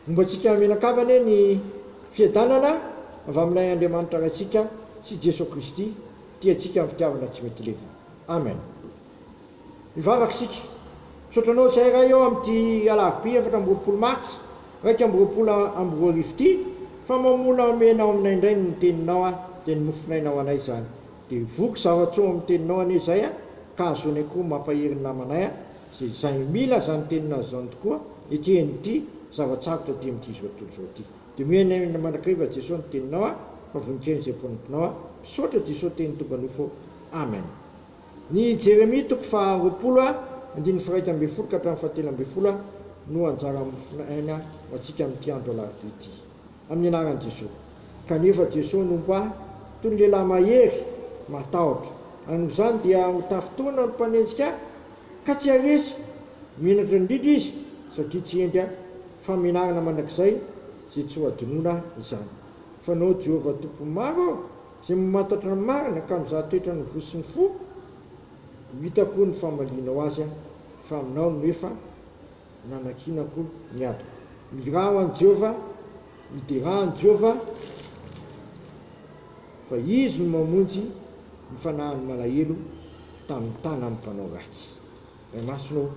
Momba antsika mianakavy anie ny fiadanana avy amin'ilay Andriamanitra Raintsika sy Jeso Kristy tia antsika amin'ny fitiavana tsy mety levona. Amen. Mivavaka isika. Misaotra anao izahay Ray ô amin'ity alarobia efatra amby roapolo martsa iraika amby roapolo amby roa arivo ity fa mamola omena ao aminay indray ny Teninao dia ny Mofonaina ho anay izany. Dia voky zavatra eo amin'ny teninao anie izay a, ka hahazoanay koa mampahery ny namanay a, izay izay mila izany teninao izany tokoa ity eny ity zava-tsarotra ity amin'ity izao tontolo izao ity. Dia mihaino ahy mandrakariva Jeso ny teninao a, fa voninkaina izay mpanomponao a, misaotra Jeso teny tonga nofo ô, Amen. Ny Jeremia toko faha roapolo a, andininy faraika ambin'ny folo ka hatramin'ny fahatelo ambin'ny folo a, no anjara mofon' aina ho antsika amin'ity andro alarobia ity. amin'ny anaran'i Jesoa. Kanefa Jesoa no mba toy ny lehilahy mahery, matahotra. Ary noho izany dia ho tafintohina ny mpanenjika ahy ka tsy haharesy. Menatra indrindra izy satria tsy hendry ahy. Famenarana mandrakizay izay tsy ho adinoina izany. Fanao Jehovah Tompo maro aho izay mamantatra ny marina ka mizaha toetra ny voa sy ny fo. Ho hitako ny famalianao azy fa aminao no efa nanakianako ny adiko. Miraho an'i Jehovah, midera an'i Jehovah fa izy no mamonjy ny fanahin'ny malahelo tamin'ny tanan'ny mpanao ratsy. Ray Masina ô,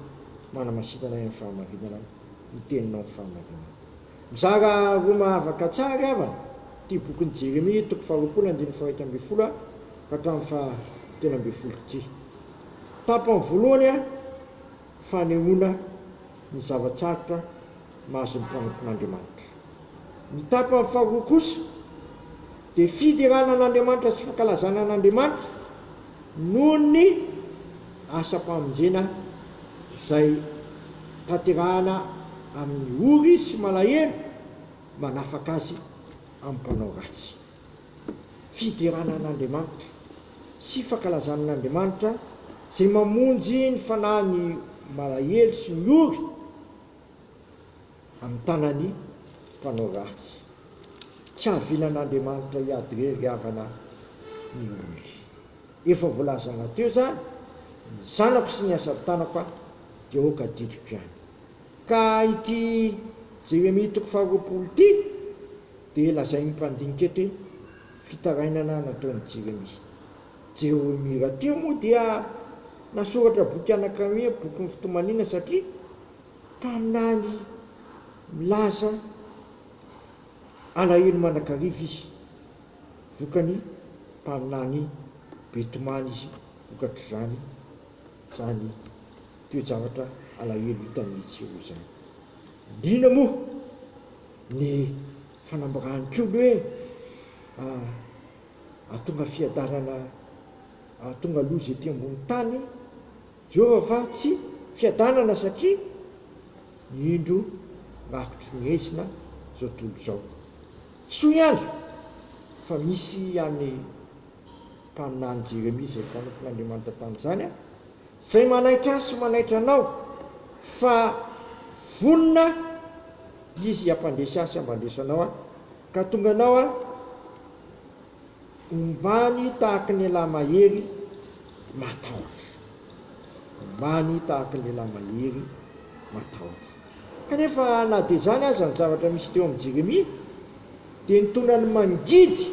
manamasita anay amin'ny fahamarinana ny teninao amin'ny fahamarinana. Mizara roa mahavaka tsara ry havana ity bokin'i Jeremia toko faharoapolo andininy faha-iraika ambin'ny folo ka hatramin'ny faha-telo ambin'ny folo ity. Tapany voalohany. fanehoana ny zava-tsarotra mahazo ny mpanompon'Andriamanitra. Ny tapany faharoa kosa dia fiderana an'Andriamanitra sy fankalazana an'Andriamanitra noho ny asam-pamonjena izay tanterahana amin'ny ory sy malahelo manafaka azy amin'ny mpanao ratsy. fiderana an'Andriamanitra sy fankalazana an'Andriamanitra izay mamonjy ny fanahin'ny malahelo sy ny ory amin'ny tanan'ny mpanao ratsy. Tsy hahavilan'Andriamanitra hiady irery havana ny olony. Efa voalazana teo izany, ny zanako sy ny asan'ny tanako dia aoka adidiko ihany. Ka ity Jeremia toko faharoapolo ity Dia lazain'ny mpandinika eto hoe fitarainana nataon'i Jeremia. Jeremia rahateo moa dia nasoratra boky anankiray hoe Bokin'ny Fitomaniana satria mpaminany milaza alahelo mandrakariva izy. Vokany, mpaminany be tomany izy vokatr'izany, izany toe-javatra alahelo hitany etsy sy eroa izany. Inona moa? ny fanambarany koa ny hoe hahatonga fiadanana hahatonga loza ety ambony tany Jehovah fa tsy fiadanana satria ny indro rakotry ny haizina izao tontolo izao. Soa ihany fa misy ihany ny mpaminany Jeremia izay mpanompon'Andriamanitra tamin'izany Zay manaitra ahy sy manaitra anao fa vonona Izy hampandresy ahy sy hampandresy anao an, ka tonga anao an, ombany tahaky ny elah mahery matahotra, ombany tahaky ny lelah mahery matahotra. Kanefa na dia izany aza ny zavatra misy teo amin'i Jeremia dia ny tonany mangidy.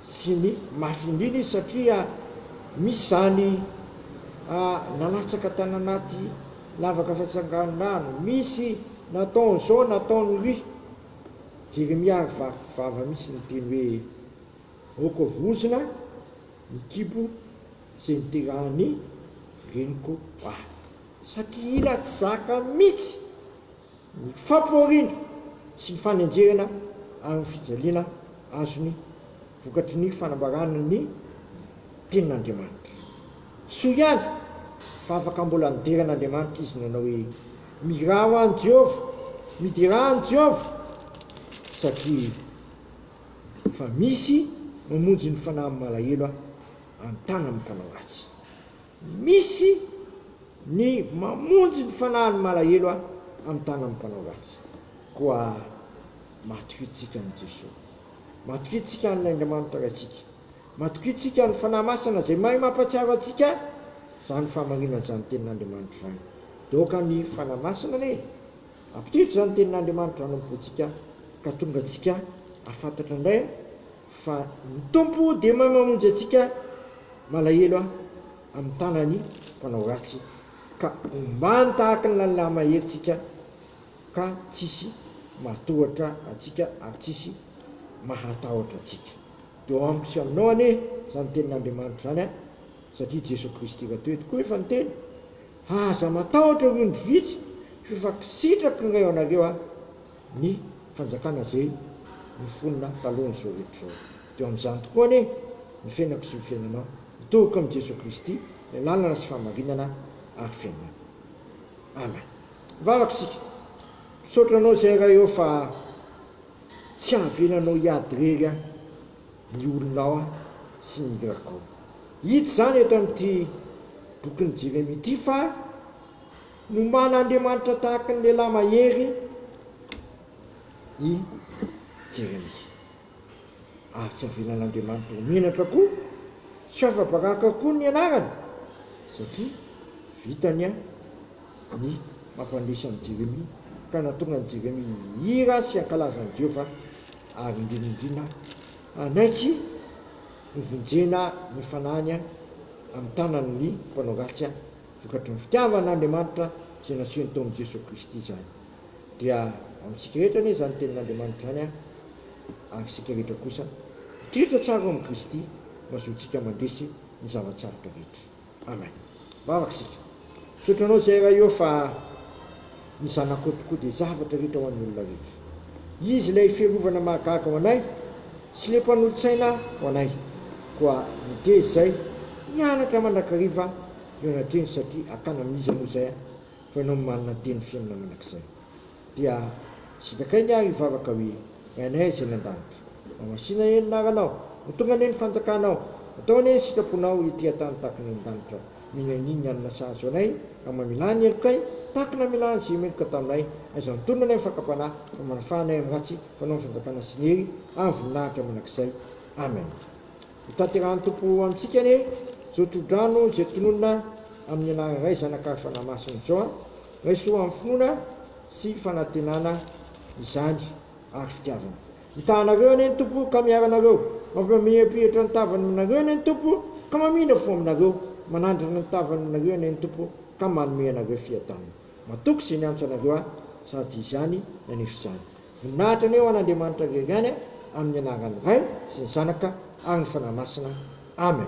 sy ny mafin'iny izy satria misy izany nalatsaka tany anaty lavaka fantsanganon-drano, misy nataony izao nataony ry. Jeremia ary vaky vava mihitsy niteny hoe, Aoka vozona ny kibo izay niterahan'ny reniko ahy. Satria ila tsy zaka mihitsy. ny fampihoriana sy ny fanenjehana ary ny fijaliana azony vokatry ny fanambarana ny Tenin'Andriamanitra. Soa ihany fa afaka mbola nidera an'Andriamanitra izy nanao hoe, Mirao an'i Jehovah, miderà an'i Jehovah, satria efa misy mamonjy ny fanahin'ny malahelo an-tanan'ny mpanao ratsy. Misy ny mamonjy ny fanahiny malahelo aho amin'ny tanan'ny mpanao ratsy. Koa matokintsika an'i Jesoa. Matokintsika an'ilay Andriamanitra Raintsika. Matokintsika ny Fanahy Masina izay mahay mampahatsiaro antsika izany fahamarinana izany tenin'Andriamanitra izany. Dia aoka ny Fanahy Masina anie hampitodika izany tenin'Andriamanitra izany am-pontsika ka tonga antsika hahafantatra indray Fa ny Tompo dia mamamonjy antsika malahelo aho amin'ny tanan'ny mpanao ratsy, ka ombany tahaka ny lalilà mahery tsika, ka tsisy matohatra antsika ary tsisy mahatahotra antsika. Eo amiko sy aminao anie izany tenin'Andriamanitra izany an! satria Jesoa Kristy raha teto koa efa niteny, Aza matahotra ry ondry vitsy, f'efa kisitrako indray ho anareo aho. ny fanjakana izay nifonona talohan'izao rehetra izao. Dia ao amin'izany tokoa anie ny fiainako sy ny fiainanao. Mitory koa amin'i Jesoa Kristy, ilay lalana sy fahamarinana ary fiainana. Amen. Mivavaka isika. Misaotra Anao izay Ray ô fa tsy havelanao hiady irery aho, ny olonao aho sy ny hirako ao. Hita izany eto amin'ity bokin'i Jeremia ity fa Nomana Andriamanitra tahaka ny lehilahy mahery i Jeremia, ary tsy avelan'Andriamanitra ho menatra koa sy ho afa-baraka koa ny anarany, satria vitany ny mampandresy an'i Jeremia, ka nahatonga an'i Jeremia hihira sy hankalaza an'i Jehovah, ary indrindraindrindra hanaiky hovonjena ny fanahiny amin'ny tanan'ny mpanao ratsy. vokatry ny fitiavan' Andriamanitra izay nasehony tao amin'i Jesoa Kristy izany. Dia ho amintsika rehetra anie izany tenin' Andriamanitra izany an! Ary isika rehetra kosa mitriatra tsara ao amin'i Kristy no hahazoantsika mandresy ny zava-tsarotra rehetra. Amen. Vavaka isika. Misaotra Anao izay Ray ô fa. ny zanakao tokoa dia zavatra rehetra ho an'ny olona rehetra. Izy ilay fiarovana mahagaga ho anay sy le mpanolo-tsaina ho anay. Koa miteza izay mianatra mandrakariva ny ao anatrehany satria hakana amin'iza moa izay fa ianao no manana ny teny fiainana mandrakizay. Dia sitrakay ny ahy hivavaka hoe, Rainay izay any an-danitra. Mamasina anie ny anaranao. Ho tonga anie ny fanjakanao. Atao anie ny sitraponao ety an-tany tahaka ny any an-danitra. Mihainoy ny alina sazy ho anay, raha mamilà ny helokay, tahaka ny namilà ny zio meloka taminay. Aiza ny tolona anay amin'ny fakam-panahy, fa manafà anay amin'ny ratsy, fanao ny fanjakana sy ny hery ary voninahitra mandrakizay. Amen. Hotanterahan'ny Tompo amintsika anie izao tro-drano izay tononina amin'ny anaran'ny Ray, Zanaka ary Fanahy Masina izao an! Raiso amin'ny finoana sy fanantenana izany ary fitiavana. Mitahanareo anie ny Tompo ka miaranareo, mampimamirapiratra ny tavany aminareo anie ny Tompo ka mamindra fo aminareo, manandrana ny tavany aminareo anie ny Tompo ka manome anareo fiadanana. Matoky izay niantso anareo ahy, sady Izy ihany naneso izany. Voninahitra anie ho an'Andriamanitra irery ihany, amin'ny anaran'ny Ray sy ny Zanaka ary ny Fanahy Masina. Amen.